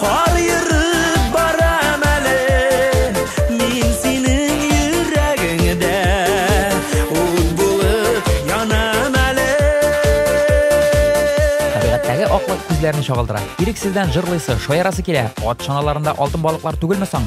Кар ерып барам әле Мин синең йөрәгеңдә Ут булып янам әле Табигатьтәге аклык күзләрне чагылдыра. Ирексездән җырлыйсы, шаярасы килә. Ат чаналарында алтын балыклар түгелме соң?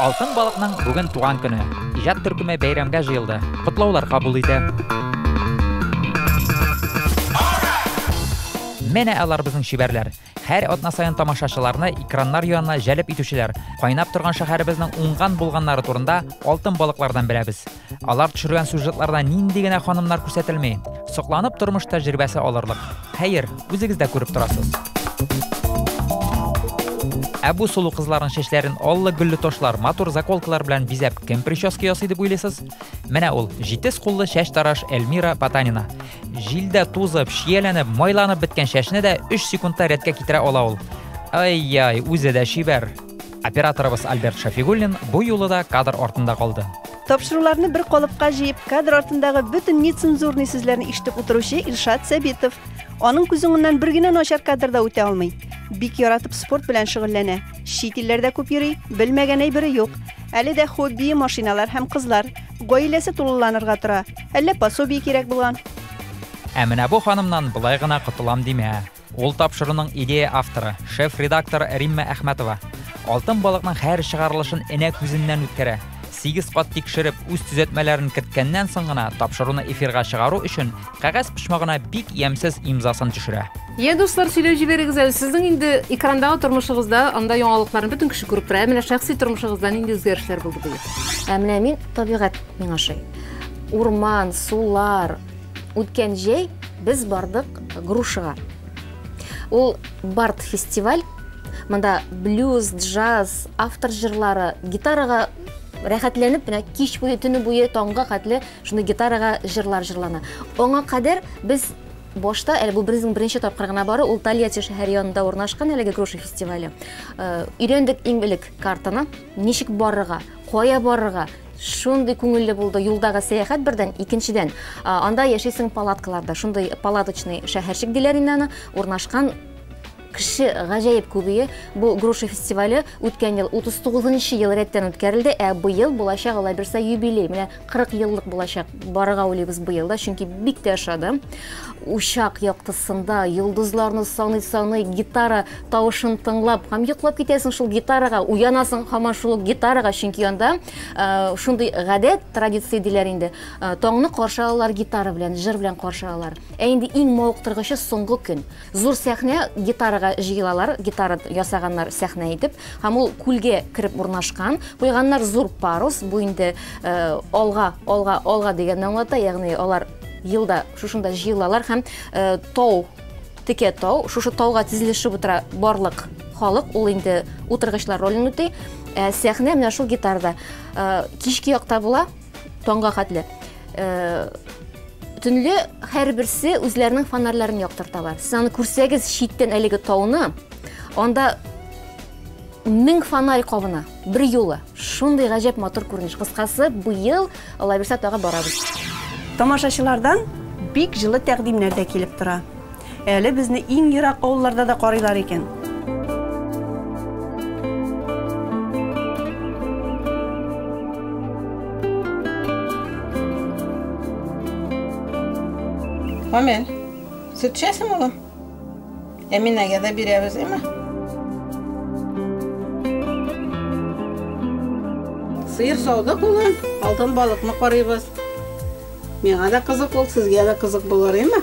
Алтын балыкның бүген туган көне. Иҗат төркеме бәйрәмгә җыелды. Котлаулар кабул итә. Менә алар безнең чибәрләр. Һәр атна саен тамашачыларны экраннар янына җәлеп итүчеләр, кайнап торган шәһәребезнең уңган-булганнары турында алтын балыклардан беләбез. Алар төшергән сюжетларда нинди генә ханымнар күрсәтелми. Сокланып тормыш тәҗрибәсе алырлык. Хәер, үзегез дә күреп торасыз. Ә бу сулу кызларның чәчләрен аллы гөлле ташлар, матур заколкалар белән бизәп кем прическа ясый дип уйлыйсыз? Менә ул, җитез куллы чәч тараш Эльмира Потанина. Җилдә тузып, чияләнеп, майланып беткән чәчне дә 3 секундта рәткә китерә ала ул. Ай-яй, үзе дә чибәр. Операторыбыз Альберт Шафигуллин бу юлы да кадр артында калды. Тапшыруларны бер калыпка җыеп, кадр артындагы бөтен нецензурный сүзләрне ишетеп утыручы Илшат Сәбитов. Аның күз уңыннан бер генә начар кадр да үтә алмый. Бик яратып спорт белән шөгыльләнә. Чит илләрдә күп йөри, белмәгән әйбере юк. Әле дә хоббие машиналар һәм кызлар. Гаиләсе тулыланырга тора. Әллә пособие кирәк булган. Ә менә бу ханымнан болай гына котылам димә. Ул тапшыруның идея авторы, шеф-редактор Римма Әхмәтова. Алтын балыкның һәр чыгарылышын энә күзеннән үткәрә. Сигез кат тикшереп, үз төзәтмәләрен керткәннән соң гына тапшыруны эфирга чыгару өчен Кәгазь почмагына бик ямьсез имзасын төшерә. Йә, дуслар, сөйләп җибәрегез әле, сезнең инде экрандагы тормышыгызда анда яңалыкларны бөтен кеше күреп тора, ә менә шәхси тормышыгызда нинди үзгәрешләр булды быел? Ә менә мин, табигать миңа ошый. Урман, сулар. Үткән җәй без бардык Грушага. Ул бард-фестиваль. Монда блюз, джаз, автор җырлары, гитарага рәхәтләнеп менә кич буе, төне буе, таңга хәтле Шуны гитарага җырлар җырлана. Аңа кадәр без башта, әле бу безнең беренче тапкыр гына бары, ул Тольятти шәһәр янында урнашкан әлеге груша фестивале. Э, өйрәндек иң элек картаны, ничек барырга, кая барырга, шундый күңелле булды юлдагы сәяхәт бердән икенчедән анда яшисең палаткаларда шундый палаточный шәһәрчек диләр инде аны урнашкан Кеше гаҗәеп күбее. Бу Груша фестивале үткән ел 39 нчы ел рәттән үткәрелде, ә быел булачак Алай булса юбилей, менә 40 еллык булачак. Барырга уйлыйбыз быел да, чөнки бик тә ошады. Учак яктысында, йолдызларны саный-саный, гитара тавышын тыңлап һәм йоклап китәсең шул гитарага, уянасың һаман шул ук гитарага, чөнки анда шундый гадәт, традиция диләр инде, таңны каршы алалар гитара белән, җыр белән каршы алалар. Ә инде иң мавыктыргычы соңгы көн. Зур сәхнә, гитарага җыелалар, гитара ясаганнар сәхнә итеп, һәм ул күлгә кереп урнашкан, куйганнар зур парус, бу инде алга, алга, алга дигәнне аңлата, ягъни алар елда шушында җыелалар һәм тау, текә тау, шушы тауга тезелешеп утыра барлык халык, ул инде утыргычлар ролен үти, сәхнә менә шул гитарада кичке якта була, Таңга хәтле. Э, төнле һәрберсе үзләренең фонарьларын яктырталар. Сез аны күрсәгез читтән әлеге тауны, анда мең фонарь кабына бер юлы. Шундый гаҗәп матур күренеш. Кыскасы, быел Аллабирса тагы барабыз. Тамашачылардан бик җылы тәкъдимнәр дә килеп тора. Әле безне иң ерак авылларда да карыйлар икән. Амел, сөт эчәсең улым? Әминәгә дә бирәбез, әмма. Сыер саудык улым, алтын балыкны карыйбыз. Миңа да кызык ул, сезгә дә кызык булыр, әмма.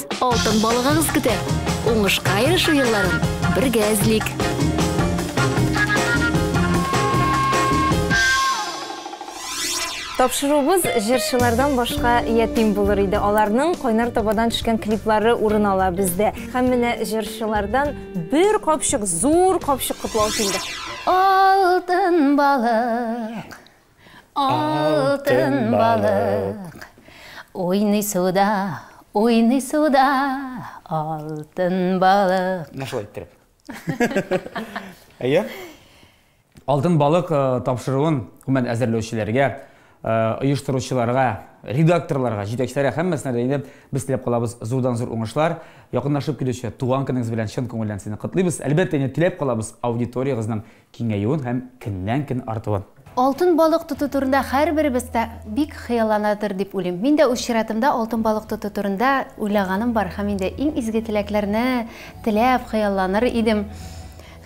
Алтын балыгыгыз көтә. Уңышка ирешү елларын бергә эзлик. Тапшыруыбыз җырчылардан башка ятим булыр иде. Аларның кайнар табадан төшкән клиплары урын ала бездә. Һәм менә җырчылардан бер капчык, зур капчык котлау килде. Алтын балык Алтын балык Уйный суда, уйный суда Алтын балык Менә шулай иттереп. Әйе? Алтын балык э, тапшыруын гомумән әзерләүчеләргә, э, оештыручыларга, редакторларга, җитәкчеләргә һәммәсенә дә инде без теләп калабыз зурдан зур уңышлар. Якынлашып килүче туган көнегез белән чын күңелдән сезне котлыйбыз. Әлбәттә, инде теләп калабыз аудиториягезнең Киңәюен һәм көннән-көн артуын. Алтын балык тоту турында һәрберебез дә бик хыялланадыр дип уйлыйм. Мин дә үз чиратымда алтын балык тоту турында уйлаганым бар һәм инде иң изге теләкләрне теләп хыялланыр идем.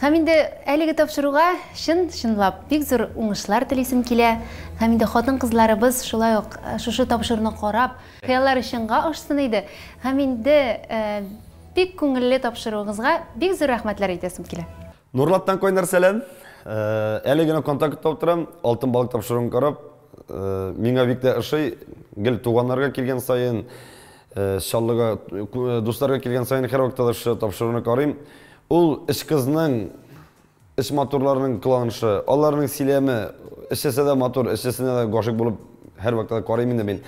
Һәм инде әлеге тапшыруга чын-чынлап бик зур уңышлар телисем килә. Һәм инде хатын-кызларыбыз шулай ук шушы тапшыруны карап, хыяллары чынга ашсын иде. Һәм инде бик күңелле тапшыруыгызга бик зур рәхмәтләр әйтәсем килә. Нурлаттан кайнар сәлам. Әле генә контактта утырам, алтын балык тапшыруын карап, миңа бик тә ошый, гел туганнарга килгән саен, Чаллыга дусларга килгән саен һәрвакытта да шушы тапшыруны карыйм. Ул өч кызның, өч матурларның кыланышы, аларның сөйләме, өчесе дә матур, өчесенә дә гашыйк булып һәрвакытта да карыйм инде мин.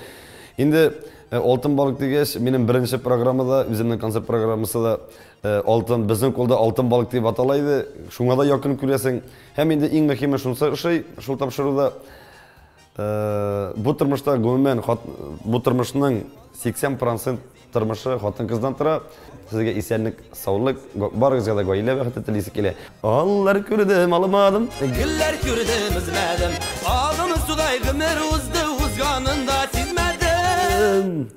Инде алтын балык дигәч, минем беренче программа да, үземнең концерт программасы да Э, алтын безнең кулда алтын балык дип атала иде шуңа да якын күрәсең һәм инде иң мөһиме шунысы ошый шул тапшыруда э, бу тормышта гомумән бу тормышның 80 процент тормышы хатын кыздан тора сезгә исәнлек саулык барыгызга да гаилә бәхете телисе килә аллар күрдем алмадым гөлләр күрдем үзмәдем агымы судай гомер узды узганын да сизмәдем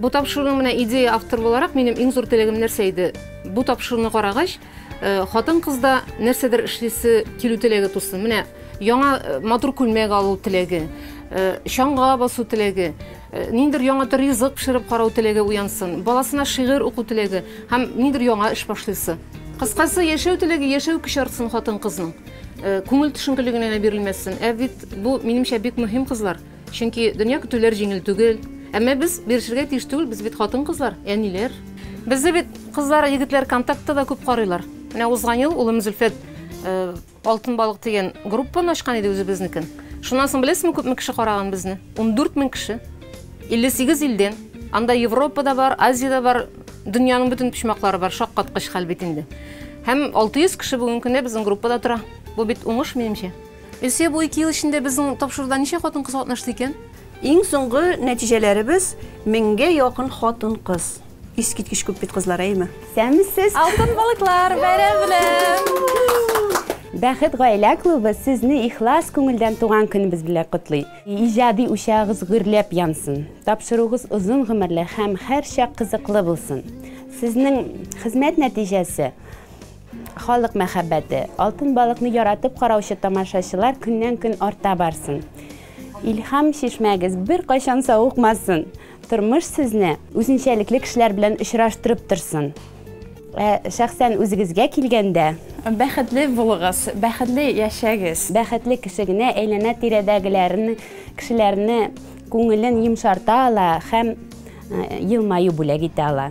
Бу тапшыруның менә идея автор буларак минем иң зур теләгем нәрсә иде? Бу тапшыруны карагач, хатын-кызда нәрсәдер эшлисе килү теләге тусын. Менә яңа матур күлмәк алу теләге, чаңга басу теләге, ниндидер яңа төр ризык пешереп карау теләге уянсын, баласына шигырь уку теләге һәм ниндидер яңа эш башлыйсы. Кыскасы, яшәү теләге, яшәү көче артсын хатын-кызның. Күңел төшенкелеге генә бирелмәсен. Ә бит бу, минемчә, бик мөһим, кызлар. Чөнки дөнья көтүләр җиңел түгел. Әмма без бирешергә тиеш түгел, без бит хатын-кызлар, әниләр. Безне бит кызлар, егетләр контактта да күп карыйлар. Менә узган ел улым Зөлфәт э, Алтын балык дигән группаны ачкан иде үзебезнекен. Шуннан соң беләсезме күпме кеше караган безне? 14 мең кеше. 58 илдән. Анда Европа да бар, Азия да бар, дөньяның бөтен почмаклары бар, шаккаткыч хәл бит инде. Һәм 600 кеше бүгенге көндә безнең группада тора. Бу бит уңыш, минемчә. Илсөя, бу ике ел эчендә безнең тапшыруда ничә хатын-кыз катнашты икән? Иң соңгы нәтиҗәләребез, меңгә якын хатын-кыз. Искиткеч күп бит, кызлар, әйеме? Сәмсез! Алтын балыклар, бәйрәм белән! Бәхет гаилә клубы сезне ихлас күңелдән туган көнебез белән котлый. Иҗади учагыгыз гөрләп янсын, тапшыруыгыз озын гомерле һәм һәрчак кызыклы булсын. Сезнең хезмәт нәтиҗәсе Халык мәхәббәте, Алтын балыкны яратып караучы тамашачылар көннән-көн арта барсын. Илһам чишмәгез беркайчан савыкмасын. Тормыш сезне үзенчәлекле кешеләр белән очраштырып торсын. Ә шәхсән үзегезгә килгәндә. Бәхетле булыгыз, бәхетле яшәгез. Бәхетле кеше генә әйләнә-тирәдәгеләрне, кешеләрне күңелен йомшарта ала һәм елмаю бүләк итә ала.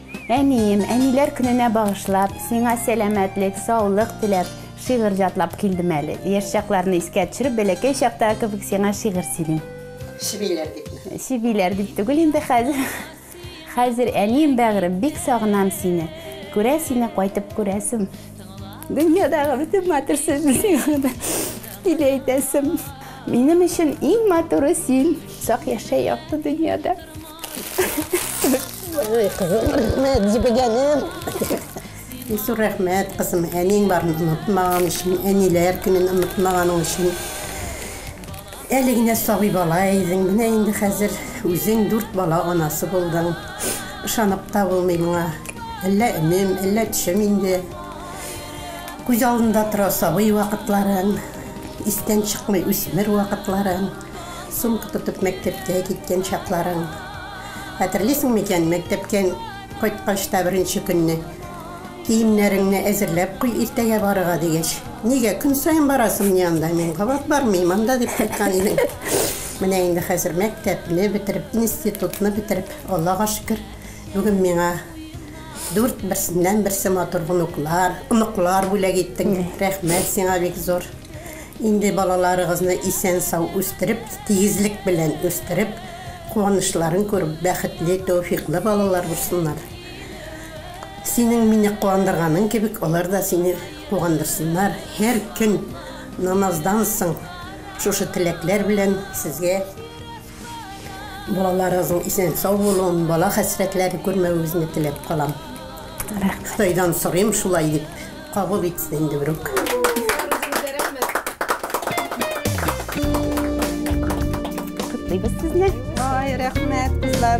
Әнием, әниләр көненә багышлап, сиңа сәламәтлек, саулык теләп, шигырь җатлап килдем әле. Яшь чакларны искә төшереп, бәләкәй чактагы кебек сиңа шигырь сөйлим. Чебиләр дипме? Чебиләр дип түгел инде хәзер. Хәзер, әнием бәгърем, бик сагынам сине. Күрә сине кайтып күрәсем. Дөньядагы бөтен матур сүзне сиңа да тиле әйтәсем. Минем өчен иң матуры син. Сак яшә якты дөньяда. Ой, кызым, рәхмәт, җебегәнем. Ису рәхмәт, кызым, әниең барын онытмаган өчен, әниләр көнен онытмаганың өчен. Әле генә сабый бала идең, менә инде хәзер үзең дүрт бала анасы булдың. Ышанып та булмый моңа. Әллә өнем, әллә төшем инде. Күз алдында тора сабый вакытларың, истән чыкмый үсмер вакытларың. Сумка тотып мәктәпкә киткән чакларың хәтерлисең микән? Мәктәптән кайткач та беренче көнне, Киемнәреңне әзерләп куй, иртәгә барырга, дигәч, Нигә, көн саен барасыңмыни анда? Мин кабат бармыйм анда, дип кайткан идең. Менә инде хәзер мәктәпне бетереп, институтны бетереп, Аллага шөкер, бүген миңа дүрт берсеннән-берсе матур онуклар, оныклар бүләк иттең. Рәхмәт сиңа бик зур. Инде балаларыгызны исән-сау үстереп, тигезлек белән үстереп, куанычларын күреп, бәхетле, тәүфиклы балалар булсыннар. Синең мине куандырганың кебек, алар да сине куандырсыннар. Һәр көн намаздан соң шушы теләкләр белән сезгә. Балаларыгызның исән-сау булуын, бала хәсрәтләрен күрмәвегезне теләп калам. Ходайдан сорыйм, шулай дип кабул итсен инде берүк. Котлыйбыз сезне. Ай, рәхмәт, кызлар.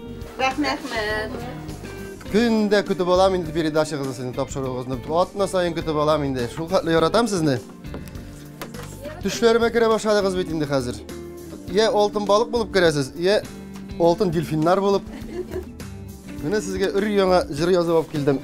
Рәхмәт. Көн дә көтеп алам инде передачагызны, сезнең тапшыруыгызны. Атна сайын көтеп алам инде. Шул хәтле яратам сезне. Төшләремә керә башладыгыз бит инде хәзер. Йә алтын балык булып керәсез, йә алтын дельфиннар булып. Менә сезгә өр яңа җыр язып алып килдем.